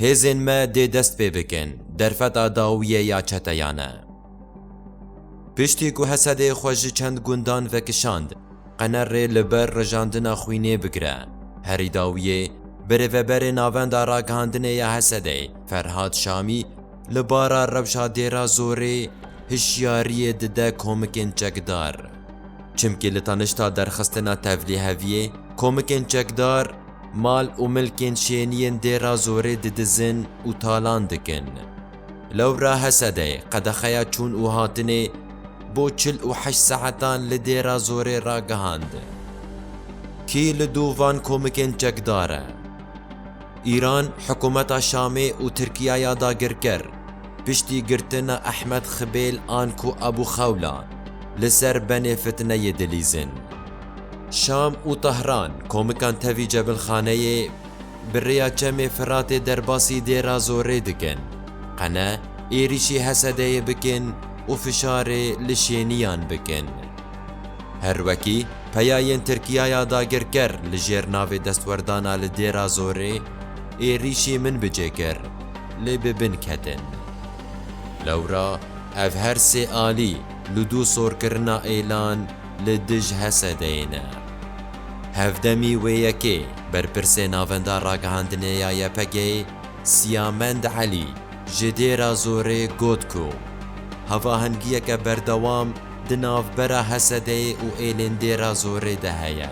Hêzên me dê dest pê bikin derfeta dawiyê ya çeteyan e. Piştî ku Hesedê xwe ji çend gundan vekişand, qene rê li ber rijandina xwînê bigire. Herî dawiyê, birêveberê Navenda Ragihandinê ya Hesedê Ferhad Şamî, Li bara rewşa dêra zorê hişyariyê dide komikên çekdar. Çimkî li tanişta derxistina tevlîheviyê komikên çekdar mal û milkên şêniyên dêra zorê didizin û talan dikin. Lewra Hesedey qedexeya çûn û hatinê bo çil û heşt saetan li dêra zorê ragihand. Kî li dû van komikên çekdar e? Îran hikumeta Şamê û Tirkiyaya dagirker piştî girtina Ehmed Xibêl an ku Abu Xewla li ser benê fitneyê dilîzin. Şam û Tahran komikan tevî cebilxaneyê bi rêya Çemê Firatê derbasî dêra zorê dikin, qene êrîşî Hesedeyê bikin û fişarê li şêniyan bikin. Her wekî peya yên Tirkiya ya dagirker li jêr navê destwerdana li Dêra Zorê, êrîşî min bi cê kir, lê bi bin ketin. Lewra ev her sê alî li dû sorkirina êlan li dij Hesedeyê ne. Hevdemî wê yekê berpirsê Navenda Ragihandinê ya YPG'ê Siyamend Elî ji Dêra Zorê got ku hevahengiyeke berdewam, Di navbera Hesedeyê û êlên Dêra Zorê de heye.